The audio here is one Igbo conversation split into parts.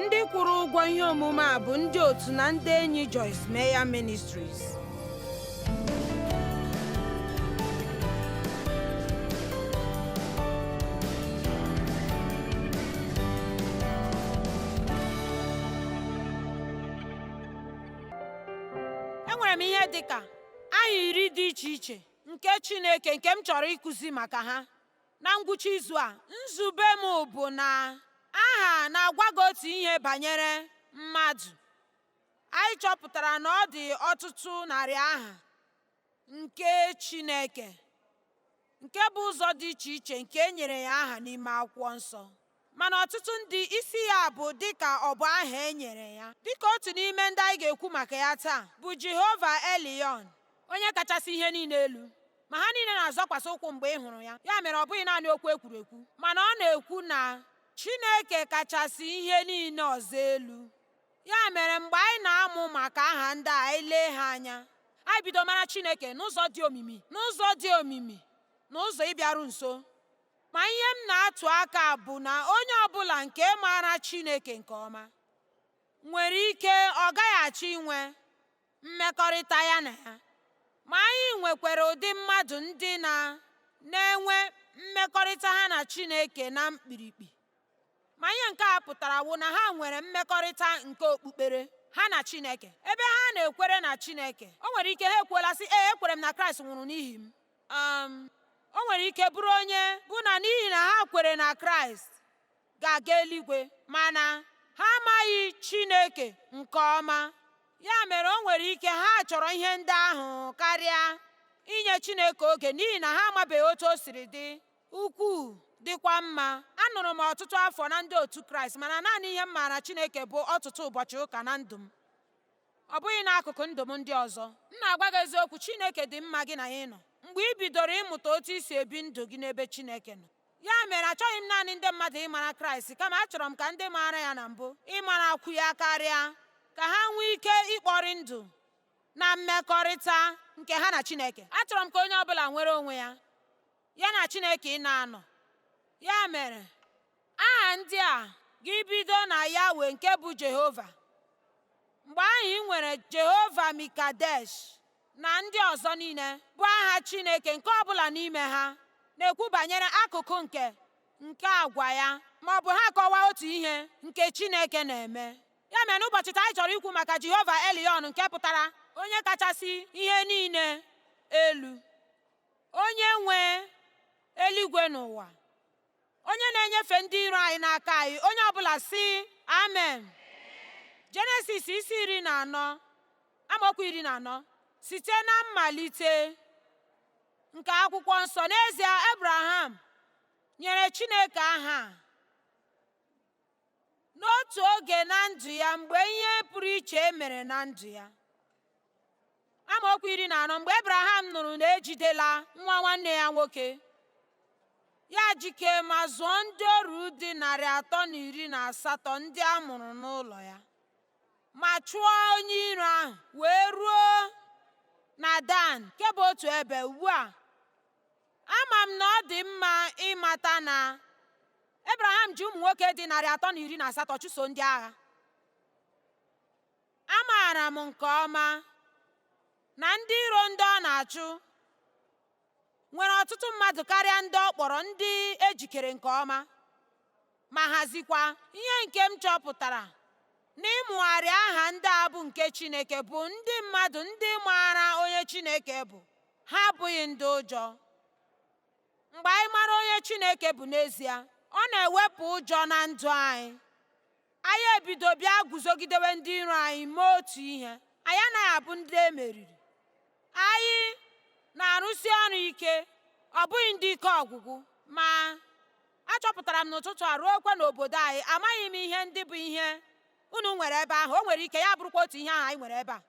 ndị kwụrụ ụgwọ ihe omume a bụ ndị otu na ndị enyi Joyce Meyer Ministries enwere m ihe dị ka aha iri dị iche iche nke Chineke nke m chọrọ ịkụzi maka ha Na ngwụcha izu a, nzube m bụ na aha na-agwa gị otu ihe banyere mmadụ. Anyị chọpụtara na ọ dị ọtụtụ narị aha nke Chineke nke bụ ụzọ dị iche iche nke e nyere ya aha n'ime Akwụkwọ Nsọ. mana ọtụtụ ndị isi ya bụ dịka ọ bụ aha e nyere ya dịka otu n'ime ndị anyị ga-ekwu maka ya taa bụ Jehova Elion onye kachasị ihe niile elu ma ha niile na-azọkwasị ụkwụ mgbe ị hụrụ ya ya mere ọ bụghị naanị okwu e kwuru ekwu mana ọ na-ekwu na Chineke kachasị ihe niile ọzọ elu ya mere mgbe anyị na-amụ maka aha ndị a anyị lee ha anya anyị bido mara Chineke n'ụzọ dị omimi n'ụzọ dị omimi n'ụzọ ịbịaru nso Ma ihe m na-atụ aka bụ na onye ọ bụla nke maara Chineke nke ọma nwere ike ọ gaghị achọ inwe mmekọrịta ya na ya. Ma anyị nwekwara ụdị mmadụ ndị na na-enwe mmekọrịta ha na Chineke na mkpirikpi. Ma ihe nke a pụtara wụ na ha nwere mmekọrịta nke okpukpere ha na Chineke. Ebe ha na-ekwere na Chineke, o nwere ike ha ekwuola sị, Ee, ekwere m na Kraịst nwụrụ n'ihi m. um o nwere ike bụrụ onye bụ na n'ihi na ha kwere na Kraịst ga-aga eluigwe mana ha amaghị Chineke nke ọma ya mere o nwere ike ha chọrọ ihe ndị ahụ karịa inye Chineke oge n'ihi na ha amabeghị otu o siri dị ukwuu dịkwa mma anọrọ m ọtụtụ afọ na ndị otu Kraịst mana naanị ihe m maara Chineke bụ ọtụtụ ụbọchị ụka na ndụ m ọ bụghị n'akụkụ ndụ m ndị ọzọ. M na-agwa gị eziokwu, Chineke dị mma gị na ya ịnọ mgbe i bidoro ịmụta otu i si ebi ndụ gị n'ebe Chineke nọ. Ya mere, achọghị m naanị ndị mmadụ ịmara Kraịst, kama achọrọ m ka ndị maara ya na mbụ ịmarakwu ya karịa, ka ha nwee ike ịkpọrị ndụ na mmekọrịta nke ha na Chineke. Achọrọ m ka onye ọ bụla nwere onwe ya. ya na Chineke ịna-anọ. Ya mere, aha ndị a ga-ebido na Yahweh nke bụ Jehova. Mgbe ahụ i nwere Jehova Mikadesh na ndị ọzọ niile bụ aha Chineke nke ọ bụla n'ime ha na-ekwu banyere akụkụ nke nke agwa ya ma ọ bụ ha akọwaa otu ihe nke Chineke na-eme. Ya mere n'ụbọchị taa anyị chọrọ ikwu maka Jehova Elion nke pụtara onye kachasị ihe niile elu. onye nwe eluigwe na ụwa onye na-enyefe ndị iro anyị n'aka anyị onye ọbụla sị amen jenesis isi iri na anọ amaokwu iri na anọ site na mmalite nke akwụkwọ nsọ n'ezie abraham nyere chineke aha n'otu oge na ndụ ya mgbe ihe pụrụ iche e mere na ndụ ya amaokwu iri na anọ mgbe ebraham nụrụ na ejidela nwa nwanne ya nwoke ya jike ma zụọ ndị ọrụ dị narị atọ na iri na asatọ ndị a mụrụ n'ụlọ ya ma chụọ onye iro ahụ wee ruo na dan nke bụ otu ebe ugbu a Ama m na ọ dị mma ịmata na Ebraham ji ụmụ nwoke dị narị atọ na iri na asatọ chụso ndị agha. Amaara m nke ọma na ndị iro ndị ọ na-achụ nwere ọtụtụ mmadụ karịa ndị ọ kpọrọ ndị ejikere nke ọma. ma hazikwa. Ihe nke m chọpụtara n'ịmụgharị aha ndị a bụ nke Chineke bụ ndị mmadụ ndị maara onye Chineke bụ, ha abụghị ndị ụjọ. Mgbe anyị mara onye Chineke bụ n'ezie, ọ na-ewepụ ụjọ na ndụ anyị. Anyị ebido bịa guzogidewe ndị iro anyị mee otu ihe, anyị anaghị abụ ndị e meriri. Anyị na-arụsi ọrụ ike, ọ bụghị ndị ike ọgwụgwụ, ma Achọpụtara m n'ụtụtụ a ruokwa n'obodo anyị, amaghị m ihe ndị bụ ihe unu nwere ebe ahụ. O nwere ike ya bụrụkwa otu ihe ahụ anyị nwere ebe a.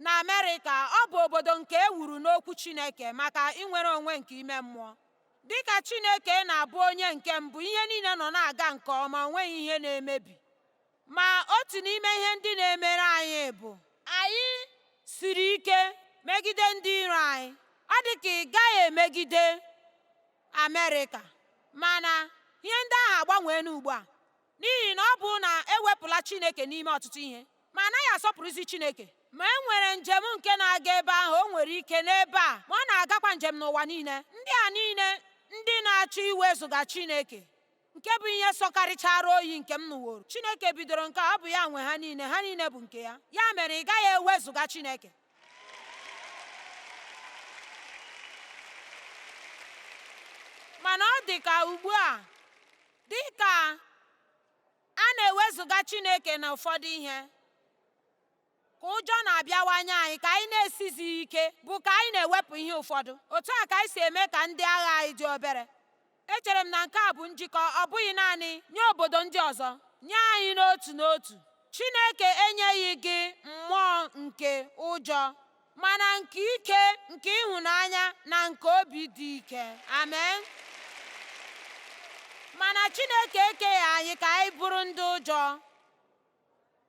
Na Amerịka, ọ bụ obodo nke e wuru n'Okwu Chineke maka inwere onwe nke ime mmụọ. Dị ka Chineke na-abụ onye nke mbụ, ihe niile nọ na-aga nke ọma, o nweghị ihe na-emebi. Ma otu n'ime ihe ndị na-emere anyị bụ anyị siri ike megide ndị iro anyị. Ọ dị ka ị gaghị emegide Amerịka mana ihe ndị ahụ agbanweela ugbu a n'ihi na ọ bụ na ewepụla Chineke n'ime ọtụtụ ihe ma anaghị asọpụrụzi Chineke ma e nwere njem nke na-aga ebe ahụ o nwere ike n'ebe a ma ọ na-agakwa njem n'ụwa niile ndị a niile ndị na-achọ iwezụga Chineke nke bụ ihe sọkarịchara oyi nke m nụworo chineke bidoro nke a ọ bụ ya nwe ha niile ha niile bụ nke ya ya mere ị gaghị ewezụga chineke mana ọ dị ka ugbu a dị ka a na-ewezụga chineke na ụfọdụ ihe ka ụjọ na-abịawanye anyị ka anyị na-esizighị ike bụ ka anyị na-ewepụ ihe ụfọdụ otu a ka anyị si eme ka ndị agha anyị dị obere echere m na nke a bụ njikọ ọ bụghị naanị nye obodo ndị ọzọ nye anyị n'otu n'otu Chineke enyeghị gị mmụọ nke ụjọ mana nke ike nke ịhụnanya na nke obi dị ike amen mana Chineke ekeghị anyị ka anyị bụrụ ndị ụjọ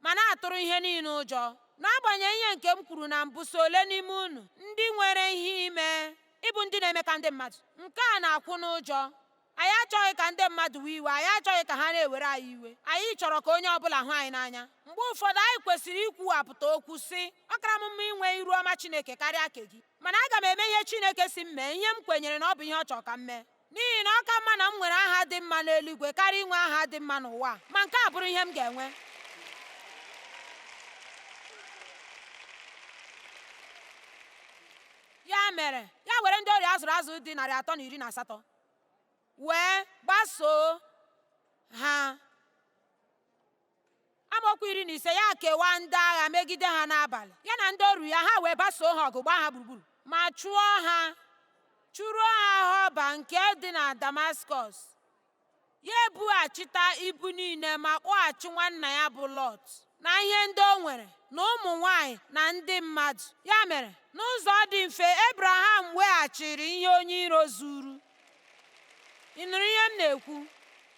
ma na-atụrụ ihe niile ụjọ n'agbanyeghị ihe nke m kwuru na mbụ so ole n'ime unu ndị nwere ihe ime ịbụ ndị na-eme ka ndị mmadụ nke a na-akwụ n'ụjọ anyị achọghị ka ndị mmadụ wee iwe anyị achọghị ka ha na-ewere anyị iwe anyị chọrọ ka onye ọbụla hụ anyị n'anya mgbe ụfọdụ anyị kwesịrị ikwuwapụta okwu sị ọ kara m mma inwe iru ọma Chineke karịa nke gị mana aga m eme ihe Chineke sị m mee ihe m kwenyere na ọ bụ ihe ọ chọrọ ka m mee n'ihi na ọ ka mma na m nwere aha dị mma n'eluigwe karịa inwe aha dị mma n'ụwa ma nke a bụrụ ihe m ga-enwe ya mere ya were ndị oru ya a zụrụ azụ dị narị atọ na iri na asatọ wee gbasoo ha amaokwu iri na ise ya kewaa ndị agha megide ha n'abalị ya na ndị oru ya ha wee basoo ha ọgụ gbaa ha gburugburu ma chụọ ha chụruo ha họba nke dị na damaskọs ya ebughachita ibu niile ma kpọghachi nwanna ya bụ lọt na ihe ndị o nwere na ụmụ nwanyị na ndị mmadụ ya mere n'ụzọ dị mfe ebraham weghachiri ihe onye iro zuru ị nụrụ ihe m na-ekwu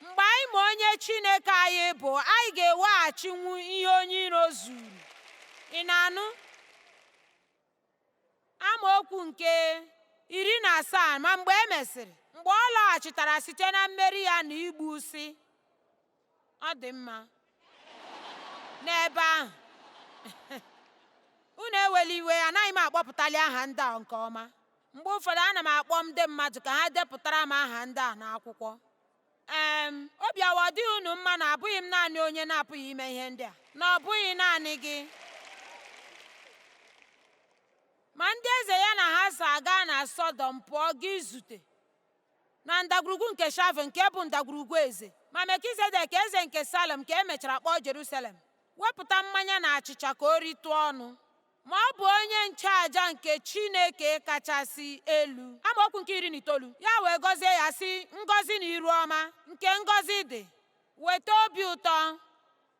mgbe anyị ma onye Chineke anyị bụ anyị ga-eweghachinwu ihe onye iro zuru ị na-anụ amaokwu nke iri na asaa ma mgbe e mesịrị mgbe ọ lọghachitara site na mmeri ya na igbu sị ọ dị mma n'ebe ahụ unu ewela iwe anaghị m akpọpụtali aha ndị a nke ọma mgbe ụfọdụ ana m akpọ ndị mmadụ ka ha depụtara m aha ndị a n'akwụkwọ ee obi awa ọ dịghị unu mma na abụghị m naanị onye na-apụghị ime ihe ndị a na ọ bụghị naanị gị ma ndị eze ya na ha so aga na sọdọm pụọ ga izute na ndagwurugwu nke Shave nke bụ ndagwurugwu eze, ma Melkizedek eze nke Salem nke e mechara kpọọ Jerusalem, wepụta mmanya na achịcha ka o ritụ ọnụ. Ma ọ bụ onye nchụaja nke Chineke kachasị elu. Amaokwu nke iri na itoolu ya wee gọzie ya sị ngọzi na iru ọma nke ngọzi dị, weta obi ụtọ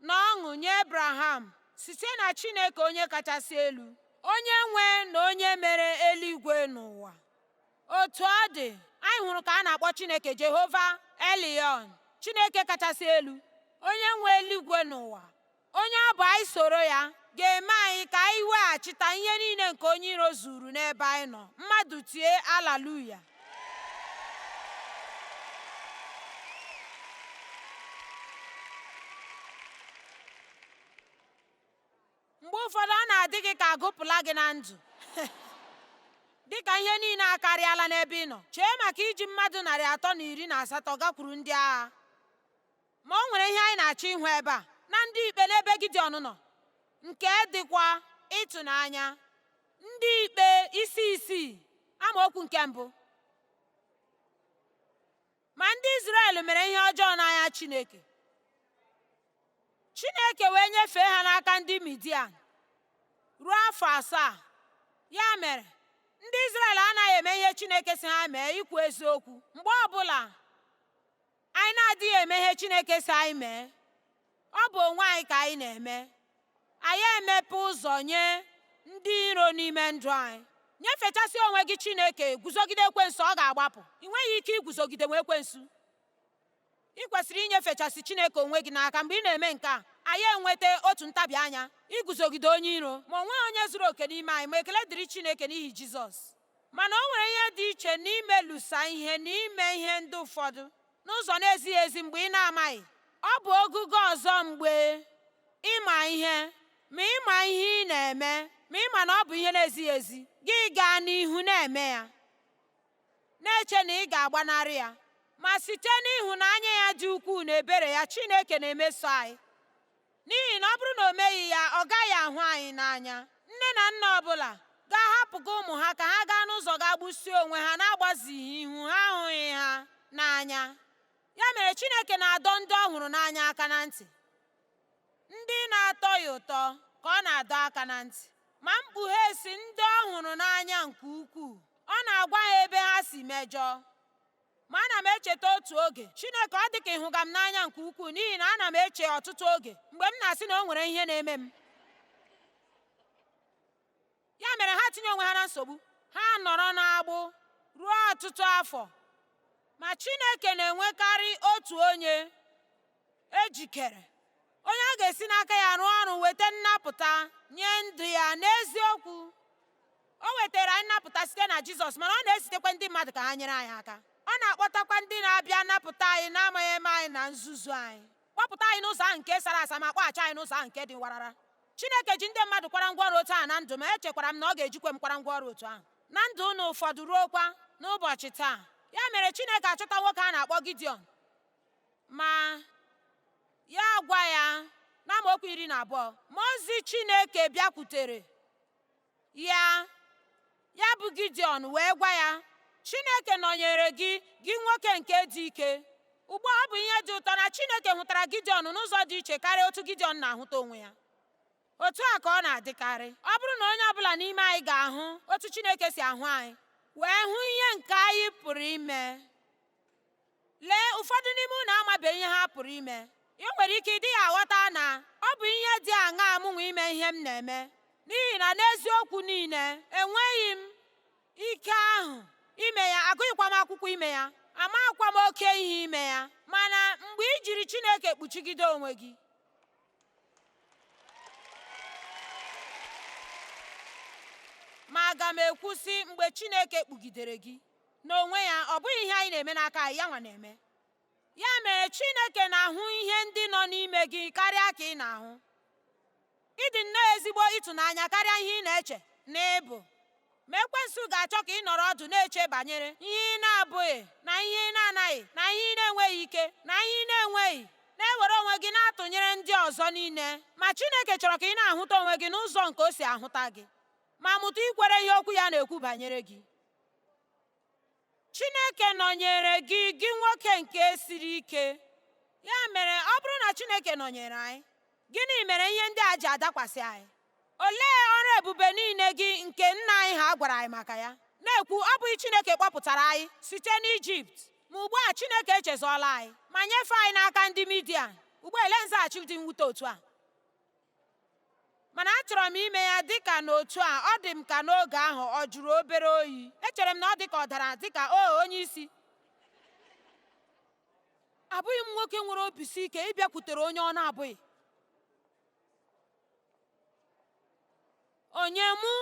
na ọṅụ nye Abraham site na Chineke onye kachasị elu, onye nwe na onye mere eluigwe na ụwa. Otu ọ dị, anyị hụrụ ka a na-akpọ Chineke Jehova Elion, Chineke kachasị elu, onye nwe eluigwe na ụwa, onye ọ bụ anyị soro ya ga-eme anyị ka anyị weghachita ihe niile nke onye iro zuru n'ebe anyị nọ, mmadụ tie alaluya. mgbe ụfọdụ ọ na-adị gị ka a gụpụla gị na ndụ dị ka ihe niile akarịala n'ebe ị nọ chee maka iji mmadụ narị atọ na iri na asatọ gakwuru ndị agha ma o nwere ihe anyị na-achọ ịhụ ebe a na ndị ikpe n'ebe Gideọn nọ nke dịkwa ịtụnanya ndị ikpe isi isii amaokwu nke mbụ Ma ndị Izrel mere ihe ọjọọ n'anya Chineke. Chineke wee nyefee ha n'aka ndị Midian ruo afọ asaa. Ya mere, ndị Izrel anaghị eme ihe Chineke sị ha mee ikwu eziokwu. Mgbe ọbụla anyị na-adịghị eme ihe Chineke sị anyị mee, Ọ bụ onwe anyị ka anyị na-eme. Anyị emepe ụzọ nye ndị iro n'ime ndụ anyị. Nyefechasị onwe gị Chineke, guzogide ekwensu, ọ ga-agbapụ. Ị nweghị ike iguzogidenwu ekwensu. Ị kwesịrị inyefechasị Chineke onwe gị n'aka mgbe ị na-eme nke a anyị enweta otu ntabi anya iguzogide onye iro ma o nweghị onye zuru oke n'ime anyị ma ekele dịrị Chineke n'ihi Jizọs mana o nwere ihe dị iche n'imelụsa ihe na ime ihe ndị ụfọdụ n'ụzọ na-ezighị ezi mgbe ị na-amaghị. Ọ bụ ogugo ọzọ mgbe ị ma ihe, ma ị ma ihe ị na-eme, ma ị ma na ọ bụ ihe na-ezighị ezi, gị gaa n'ihu na-eme ya, na-eche na ị ga-agbanarị ya. Ma site n'ịhụnanya ya dị ukwuu na ebere ya, Chineke na-emeso anyị. N'ihi na ọ bụrụ na o meghị ya, ọ gaghị ahụ anyị n'anya. Nne na nna ọ bụla ga-ahapụga ụmụ ha ka ha gaa n'ụzọ gaa gbusie onwe ha n'agbazighị ihu ha ahụghị ha n'anya. Ya mere Chineke na-adọ ndị ọ hụrụ n'anya aka na ntị. Ndị na-atọ ya ụtọ ka ọ na-adọ aka na ntị. Ma Mkpughe sị ndị ọ hụrụ n'anya nke ukwuu, ọ na-agwa ha ebe ha si mejọọ. Ma ana m echeta otu oge, Chineke, ọ dị ka ị hụga m n'anya nke ukwuu n'ihi na ana m eche ọtụtụ oge mgbe m na-asị na o nwere ihe na-eme m. Ya mere ha tinye onwe ha na nsogbu, ha anọrọ n'agbụ ruo ọtụtụ afọ. Ma Chineke na-enwekarị otu onye ejikere onye ọ ga-esi n'aka ya rụọ ọrụ weta nnapụta nye ndị ya n'eziokwu o wetara anyị nnapụta site na jizọs mana ọ na-ezitekwa ndị mmadụ ka ha nyere anyị aka ọ na-akpọtakwa ndị na-abịa napụta anyị n'amaghị ihe anyị na nzuzu anyị kpọpụta anyị n'ụzọ ahụ nke sara asa ma kpọghachi anyị n'ụzọ ahụ nke dị warara chineke ji ndị mmadụ kwara ngwa ọrụ otu ahụ na ndụ m ma echekwara m na ọ ga-ejikwa m kwara ngwa ọrụ otu ahụ na ndụ unu ụfọdụ ruokwa n'ụbọchị taa ya mere chineke achọta nwoke a na-akpọ gideon Ma ya agwa ya n'amaokwu iri na abụọ mmụọ ozi Chineke bịakwutere ya ya bụ Gideon wee gwa ya Chineke nọnyere gị gị nwoke nke dị ike ugbu a ọ bụ ihe dị ụtọ na Chineke hụtara Gideon n'ụzọ dị iche karịa otu Gideon na-ahụta onwe ya otu a ka ọ na-adịkarị ọ bụrụ na onye ọbụla n'ime anyị ga-ahụ otu Chineke si ahụ anyị wee hụ ihe nke anyị pụrụ ime Lee ụfọdụ n'ime unu amabeghị ihe ha pụrụ ime. Ị nwere ike ị dịghị aghọta na ọ bụ ihe dị aṅaa mụnwa ime ihe m na-eme n'ihi na n'eziokwu niile enweghị m ike ahụ ime ya agụghịkwa m akwụkwọ ime ya amaghịkwa m oke ihe ime ya mana mgbe i jiri Chineke kpuchigide onwe gị ma aga m ekwusị mgbe Chineke kpugidere gị n'onwe ya ọ bụghị ihe anyị na-eme n'aka anyị ya nwa na-eme ya mere Chineke na-ahụ ihe ndị nọ n'ime gị karịa ka ị na-ahụ ị dị nnọọ ezigbo ịtụnanya karịa ihe ị na-eche na ị bụ ma ekwensu ga-achọ ka ị nọrọ ọdụ na-eche banyere ihe ị na-abụghị na ihe ị na-anaghị na ihe ị na-enweghị ike na ihe ị na-enweghị na-ewere onwe gị na-atụnyere ndị ọzọ niile ma Chineke chọrọ ka ị na-ahụta onwe gị n'ụzọ nke o si ahụta gị ma mụta ikwere ihe okwu ya na-ekwu banyere gị chineke nọnyere gị gị nwoke nke siri ike ya mere ọ bụrụ na chineke nọnyere anyị gịnị mere ihe ndị a ji adakwasị anyị olee ọrụ ebube niile gị nke nna anyị ha gwara anyị maka ya na-ekwu ọ bụghị chineke kpọpụtara anyị site n'ijipt ma ugbu a chineke echezọọla anyị ma nyefee anyị n'aka ndị midia ugbu a lee nzaghachi dị mwute otu a mana achọrọ m ime ya dịka n'otu a ọ dị m ka n'oge ahụ ọ jụrụ obere oyi echere m na ọ dị ka ọ dara dịka o onye isi abụghị m nwoke nwere obi si ike ị bịakwutere onye ọ na-abụghị Onye mụ?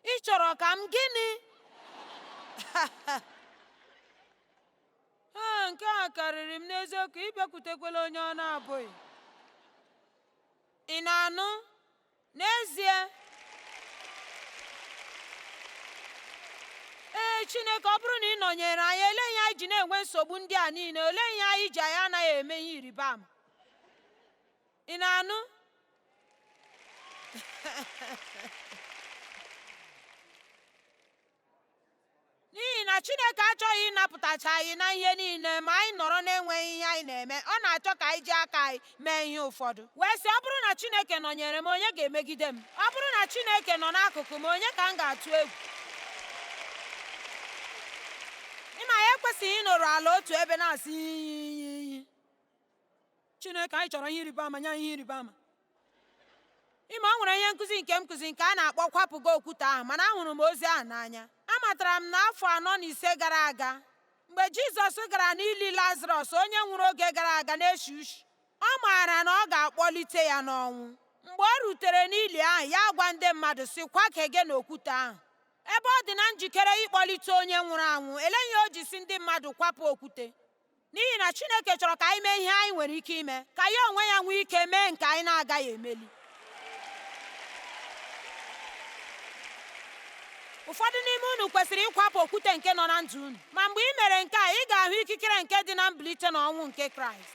Ị chọrọ ka m gịnị? Ee, nke a karịrị m n'eziokwu, ị bịakwutekwala onye ọ na-abụghị. Ị na-anụ? N'ezie, ee Chineke, ọ bụrụ na ị nọnyere anyị, olee ihe anyị ji na-enwe nsogbu ndị a niile? Olee ihe anyị ji anyị anaghị eme ihe ịrịba ama? ị na-anụ n'ihi na chineke achọghị ịnapụtacha anyị na ihe niile ma anyị nọrọ na-enweghị ihe anyị na-eme ọ na-achọ ka anyị ji aka anyị mee ihe ụfọdụ wee sị ọ bụrụ na chineke nọnyere m onye ga-emegide m ọ bụrụ na chineke nọ n'akụkụ m onye ka m ga-atụ egwu ị ma anyị ekwesịghị ịnọrọ ala otu ebe na-asị iyi iyi iyi Chineke anyị chọrọ ihe ịrịba ama nye anyị ihe ịrịba ama ị ma o nwere ihe nkụzi nke m kụzi nke a na-akpọ kwapụ gị okwute ahụ mana ahụrụ m ozi ahụ n'anya amatara m n'afọ anọ na ise gara aga mgbe Jizọs gara n'ili Lazarọs onye nwụrụ oge gara aga na-eshi ushi ọ maara na ọ ga-akpọlite ya n'ọnwụ mgbe o rutere n'ili ahụ ya agwa ndị mmadụ sị kwa aka gị n'okwute ahụ ebe ọ dị na njikere ịkpọlite onye nwụrụ anwụ olee ihe o ji sị ndị mmadụ kwapụ okwute n'ihi na Chineke chọrọ ka anyị mee ihe anyị nwere ike ime ka ya onwe ya nwee ike mee nke anyị na-agaghị emeli ụfọdụ n'ime unu kwesịrị ịkwapụ okwute nke nọ na ndụ unu ma mgbe i mere nke a ị ga-ahụ ikikere nke dị na mbilite n'ọnwụ nke kraịst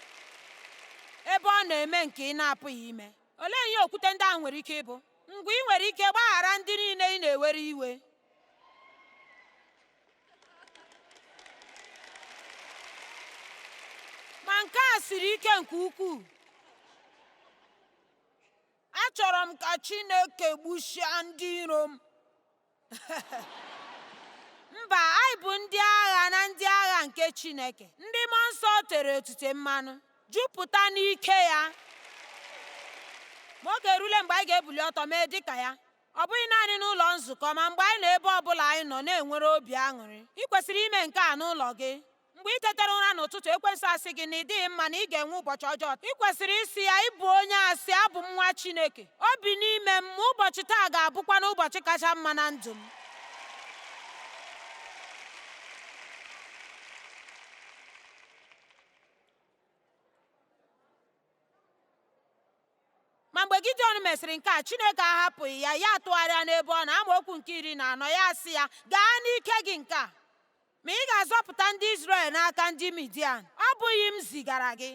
ebe ọ na-eme nke ị na-apụghị ime olee ihe okwute ndị ahụ nwere ike ịbụ mgbe i nwere ike gbaghara ndị niile ị na-ewere iwe ma nke a siri ike nke ukwuu achọrọ m ka Chineke gbusịa ndị iro m mba anyị bụ ndị agha na ndị agha nke Chineke ndị mmụọ nsọ tere otite mmanụ jupụta n'ike ya ma oge erule mgbe anyị ga-ebuli ọtọ mee dịka ya ọ bụghị naanị n'ụlọ nzukọ ma mgbe anyị nọ ebe ọ bụla anyị nọ na-enwere obi aṅụrị i kwesịrị ime nke a n'ụlọ gị mgbe i tetara ụra n'ụtụtụ ekwensu asị gị na ị dịghị mma na ị ga-enwe ụbọchị ọjọọ i kwesịrị ịsị ya ị bụ onye asị abụ m nwa Chineke o bi n'ime m ma ụbọchị taa ga-abụkwanụ ụbọchị kacha mma na ndụ m Ma mgbe Gideon mesịrị nke a, Chineke ahapụghị ya, ya atụgharịa n'ebe ọ nọ amaokwu nke iri na anọ ya asị ya, gaa n'ike gị nke a, ma ị ga-azọpụta ndị Izrel n'aka ndị Midian, ọ bụghị m zigara gị.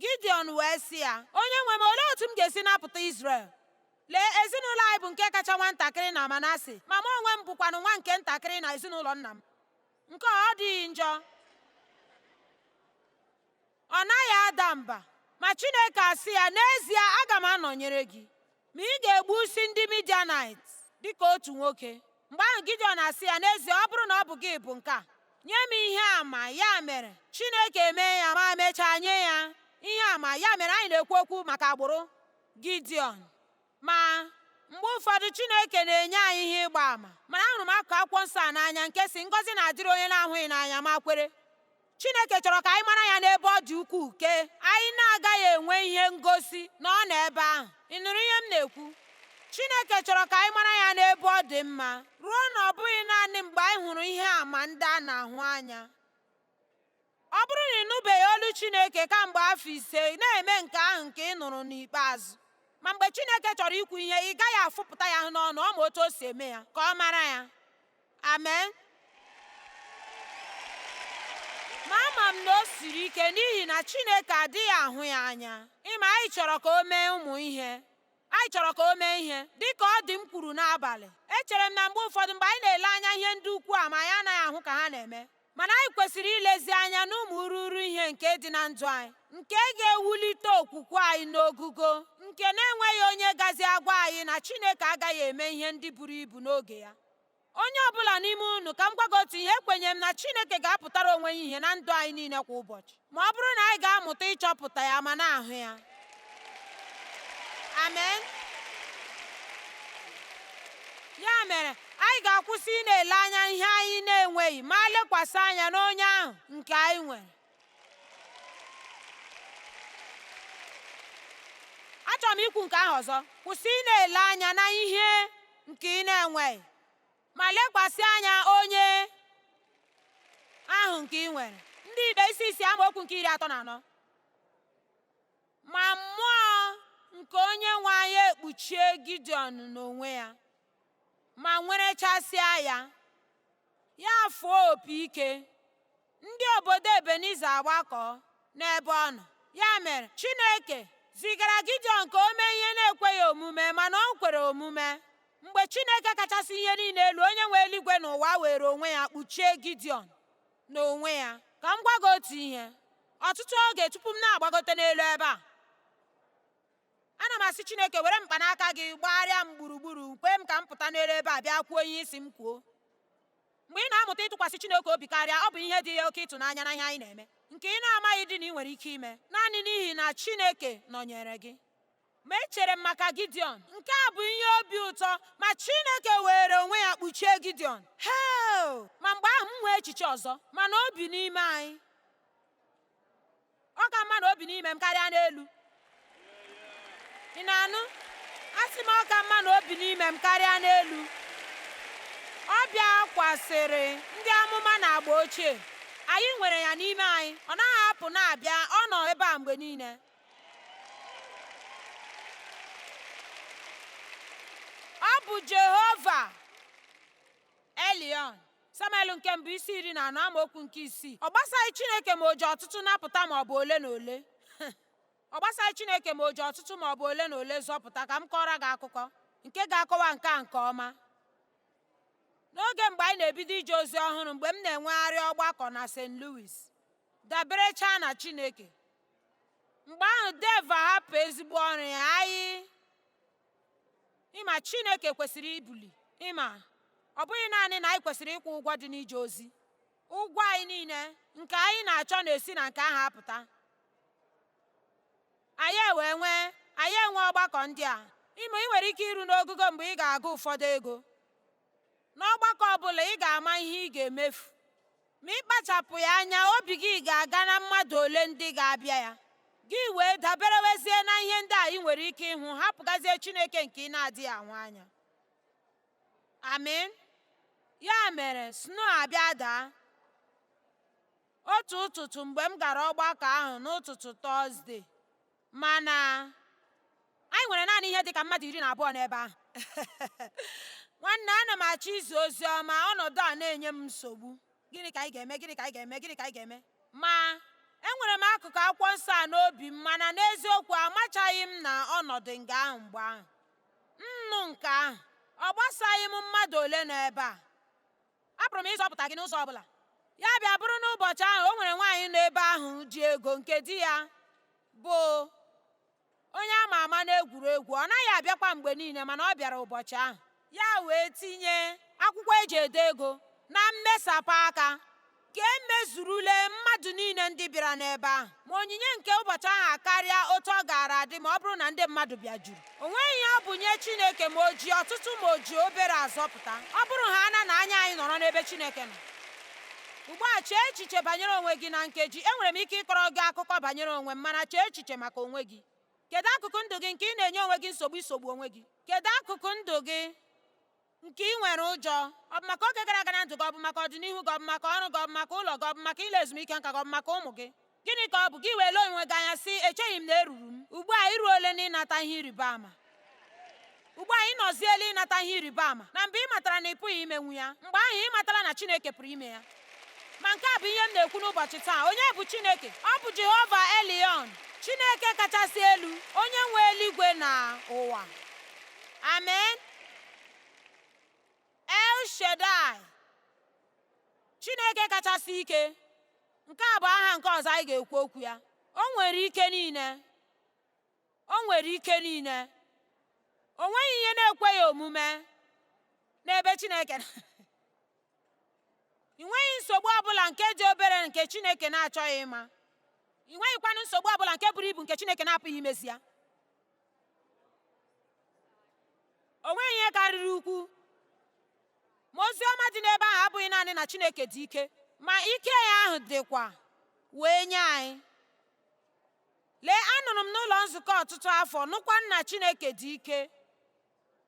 Gideon wee sị ya, onye nwe m olee otu m ga-esi napụta Izrel? Lee, ezinụlọ anyị bụ nke kacha nwa ntakịrị na Manase, ma mụ onwe m bụkwanụ nwa nke ntakịrị na ezinụlọ nna m. Nke ọ dịghị njọ? ọ naghị ada mba ma Chineke asị ya n'ezie aga m anọnyere gị ma ị ga-egbusi ndị Midianit dịka otu nwoke mgbe ahụ Gideon asị ya n'ezie ọ bụrụ na ọ bụ gị bụ nke a nye m ihe ama ya mere Chineke mee ya ma mechaa nye ya ihe ama ya mere anyị na-ekwu okwu maka agbụrụ Gideon Ma mgbe ụfọdụ Chineke na-enye anyị ihe ịgba ama mana ahụrụ m akụkụ akwụkwọ nsọ a n'anya nke sị ngọzi na-adịrị onye na-ahụghị n'anya ma kwere Chineke chọrọ ka anyị mara ya n'ebe ọ dị ukwuu nke anyị na-agaghị enwe ihe ngosi na ọ nọ ebe ahụ ị nụrụ ihe m na-ekwu Chineke chọrọ ka anyị mara ya n'ebe ọ dị mma ruo na ọ bụghị naanị mgbe anyị hụrụ ihe ama ndị a na-ahụ anya Ọ bụrụ na ị nụbeghị olu Chineke kamgbe afọ ise, na-eme nke ahụ nke ị nụrụ n'ikpeazụ. Ma mgbe Chineke chọrọ ikwu ihe, ị gaghị afụpụta ya n'ọnụ, ọ ma otu o si eme ya, ka ọ mara ya. Amen. Ma ama m na o siri ike n'ihi na Chineke adịghị ahụ ya anya. Ị ma anyị chọrọ ka o mee ụmụ ihe. Anyị chọrọ ka o mee ihe dị ka ụdị m kwuru n'abalị. Echere m na mgbe ụfọdụ mgbe anyị na-ele anya ihe ndị ukwu a ma anyị anaghị ahụ ka ha na-eme, mana anyị kwesịrị ilezi anya n'ụmụ ururu ihe nke dị na ndụ anyị nke ga-ewulite okwukwe anyị n'ogugo nke na-enweghị onye gazi agwa anyị na Chineke agaghị eme ihe ndị buru ibu n'oge ya onye ọbụla n'ime unu ka m gwa gị otu ihe ekwenye m na Chineke ga-apụtara onwe ya ihe na ndụ anyị niile kwa ụbọchị ma ọ bụrụ na anyị ga-amụta ịchọpụta ya ma na-ahụ ya amen ya mere anyị ga-akwụsị ị na-ele anya ihe anyị na-enweghị ma lekwasị anya n'onye ahụ nke anyị nwere achọrọ m ikwu nke ahụ ọzọ kwụsị ị na-ele anya na ihe nke ị na-enweghị ma lekwasị anya onye ahụ nke ị nwere ndị ikpe isi isii amaokwu nke iri atọ na anọ ma mmụọ nke onye nwe anyị ekpuchie gideon n'onwe ya ma nwerechasịa ya ya fụọ opi ike Ndị obodo Ebeniza agbakọọ n'ebe ọ nọ. Ya mere, Chineke zigara Gideon ka o mee ihe na-ekweghị omume, mana o kwere omume. Mgbe Chineke kachasị ihe niile elu, onye nwe eluigwe na ụwa were onwe ya kpuchie Gideon n'onwe ya. Ka m gwa gị otu ihe. Ọtụtụ oge tupu m na-agbagote n'elu ebe a, ana m asị Chineke were mkpanaka gị gbagharịa m gburugburu kwe m ka m pụta n'elu ebe a bịa kwuo ihe ị sị m kwuo. Mgbe ị na-amụta ịtụkwasị Chineke obi karịa, ọ bụ ihe dị ya oke ịtụnanya na ihe anyị na-eme, nke ị na-amaghịdị na ị nwere ike ime, naanị n'ihi na Chineke nọnyere gị. Ma echere m maka Gideon. Nke a bụ ihe obi ụtọ, ma Chineke were onwe ya kpuchie Gideon. Heo! Ma mgbe ahụ m nwee echiche ọzọ, mana o bi n'ime anyị. ọ ka mma na o bi n'ime m karịa n'elu ị na-anụ asị m ọ ka mma na o bi n'ime m karịa n'elu ọ bịakwasịrị ndị amụma n'agba ochie anyị nwere ya n'ime anyị ọ naghị apụ na-abịa ọ nọ ebe a mgbe niile ọ bụ jehova elion samuel nke mbụ isi iri na anọ amaokwu nke isii ọ gbasaghị chineke ma o ji ọtụtụ napụta ma ọ bụ ole na ole ọ gbasaghị chineke ma o ji ọtụtụ ma ọ bụ ole na ole zọpụta ka m kọọrọ gị akụkọ nke ga-akọwa nke a nke ọma n'oge mgbe anyị na-ebido ije ozi ọhụrụ mgbe m na-enwegharị ọgbakọ na st louis daberechaa na chineke mgbe ahụ dave ahapụ ezigbo ọrụ ya anyị ị ma Chineke kwesịrị ibuli ị ma ọ bụghị naanị na anyị kwesịrị ịkwụ ụgwọ dị n'ije ozi ụgwọ anyị niile nke anyị na-achọ na-esi na nke ahụ apụta anyị ewee nwee anyị enwe ọgbakọ ndị a ị ma ị nwere ike iru n'ogogo mgbe ị ga-agụ ụfọdụ ego N'ọgbakọ ọ bụla, ị ga-ama ihe ị ga-emefu. Ma ị kpachapụghị anya, obi gị ga-aga na mmadụ ole ndị ga-abịa ya. Gị wee daberewezie na ihe ndị a ị nwere ike ịhụ, hapụgazie Chineke nke ị na-adịghị ahụ anya. Amen. Ya mere, snow abịa daa. Otu ụtụtụ mgbe m gara ọgbakọ ahụ n'ụtụtụ Tọzdee, Mana anyị nwere naanị ihe dịka mmadụ iri na abụọ n'ebe ahụ. Nwanne, ana m achọ izi ozi ọma, ọnọdụ a na-enye m nsogbu. Gịnị ka anyị ga-eme? Gịnị ka anyị ga-eme? Gịnị ka anyị ga-eme? Ma, enwere m akụkụ akwụkwọ nsọ a n'obi m mana n'eziokwu amachaghị m na ọ nọdụ nga ahụ mgbe ahụ. M nụ nke ahụ, ọ gbasaghị m mmadụ ole nọ ebe a. Apụrụ m ịzọpụta gị n'ụzọ ọ bụla. Ya bịa bụrụ na ụbọchị ahụ o nwere nwaanyị nọ ebe ahụ ji ego nke di ya bụ onye a ma ama n'egwuregwu ọ naghị abịakwa mgbe niile mana ọ bịara ụbọchị ahụ ya wee tinye akwụkwọ e ji ede ego na mmesapụ aka ka e mezurule mmadụ niile ndị bịara n'ebe ahụ ma onyinye nke ụbọchị ahụ akarịa otu ọ gaara adị ma ọ bụrụ na ndị mmadụ bịa juru o nweghị ihe ọ bụ nye Chineke ma o ji ọtụtụ ma o ji obere azọpụta ọ bụrụhaala na anya anyị nọrọ n'ebe Chineke nọ ugbu a chee echiche banyere onwe gị na nkeji enwere m ike ịkọrọ gị akụkọ banyere onwe m mana chee echiche maka onwe gị kedu akụkụ ndụ gị nke ị na-enye onwe gị nsogbu isogbu onwe gị kedu akụkụ ndụ gị nke ị nwere ụjọ ọ bụ maka oge gara aga na ndụ gị ọ bụ maka ọdịnihu gị ọ bụ maka ọrụ gị ọ bụ maka ụlọ gị ọ bụ maka ile ezumike nka gị ọ bụ maka ụmụ gị gịnị ka ọ bụ gị wee lee onwe gị anya sị echeghị m na eruru m ugbu a i ruole na ịnata ihe ịrịba ama ugbu a ị nọziela ịnata ihe ịrịba ama na mgbe ị matara na ị pụghị imenwu ya mgbe ahụ ị matala na Chineke pụrụ ime ya ma nke a bụ ihe m na-ekwu n'ụbọchị taa onye bụ Chineke ọ bụ Jehova Elyon Chineke kachasị elu onye nwe eluigwe na ụwa amen El Shaddai Chineke kachasị ike nke a bụ aha nke ọzọ anyị ga-ekwu okwu ya o nwere ike niile o nwere ike niile o nweghị ihe na-ekweghị omume n'ebe Chineke ị nweghị nsogbu ọbụla nke dị obere nke Chineke na-achọghị ịma ị nweghịkwanụ nsogbu ọbụla nke buru ibu nke Chineke na-apụghị imezi ya o nweghị ihe karịrị ukwu ma ozi ọma dị n'ebe ahụ abụghị naanị na Chineke dị ike ma ike ya ahụ dịkwa wee nye anyị lee anọrọ m n'ụlọ nzukọ ọtụtụ afọ nụkwa na Chineke dị ike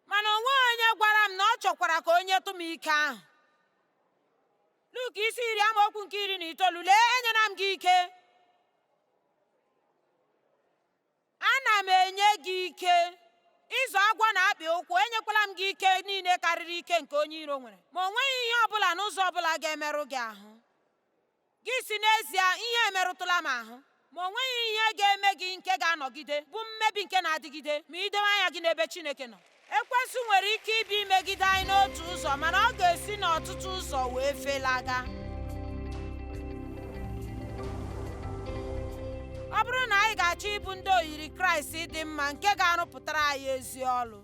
mana o nweghị onye gwara m na ọ chọkwara ka o nyetụ m ike ahụ Luk isi iri amaokwu nke iri na itoolu lee enyela m gị ike Ana m enye gị ike ịzọ agwọ na akpị ụkwụ, enyekwala m gị ike niile karịrị ike nke onye iro nwere, ma o nweghị ihe ọ bụla n'ụzọ ọ bụla ga-emerụ gị ahụ. Gị sị n'ezie ihe emerụtụla m ahụ, ma o nweghị ihe ga-eme gị nke ga-anọgide bụ mmebi nke na-adịgide ma i dowe anya gị n'ebe Chineke nọ. Ekwensu nwere ike ịbịa imegide anyị n'otu ụzọ mana ọ ga-esi n'ọtụtụ ụzọ wee felaga. Ọ bụrụ na anyị ga-achọ ịbụ ndị oyiri Kraịst dị mma nke ga-arụpụtara anyị ezi ọrụ,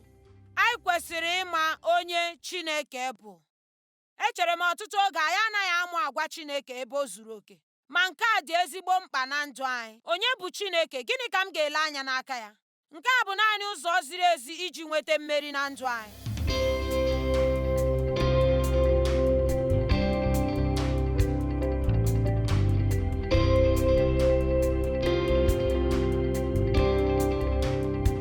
anyị kwesịrị ịma onye Chineke bụ. Echere m ọtụtụ oge anyị anaghị amụ agwa Chineke ebe o zuru oke, ma nke a dị ezigbo mkpa na ndụ anyị. Onye bụ Chineke? Gịnị ka m ga-ele anya n'aka ya? Nke a bụ naanị ụzọ ziri ezi iji nweta mmeri na ndụ anyị.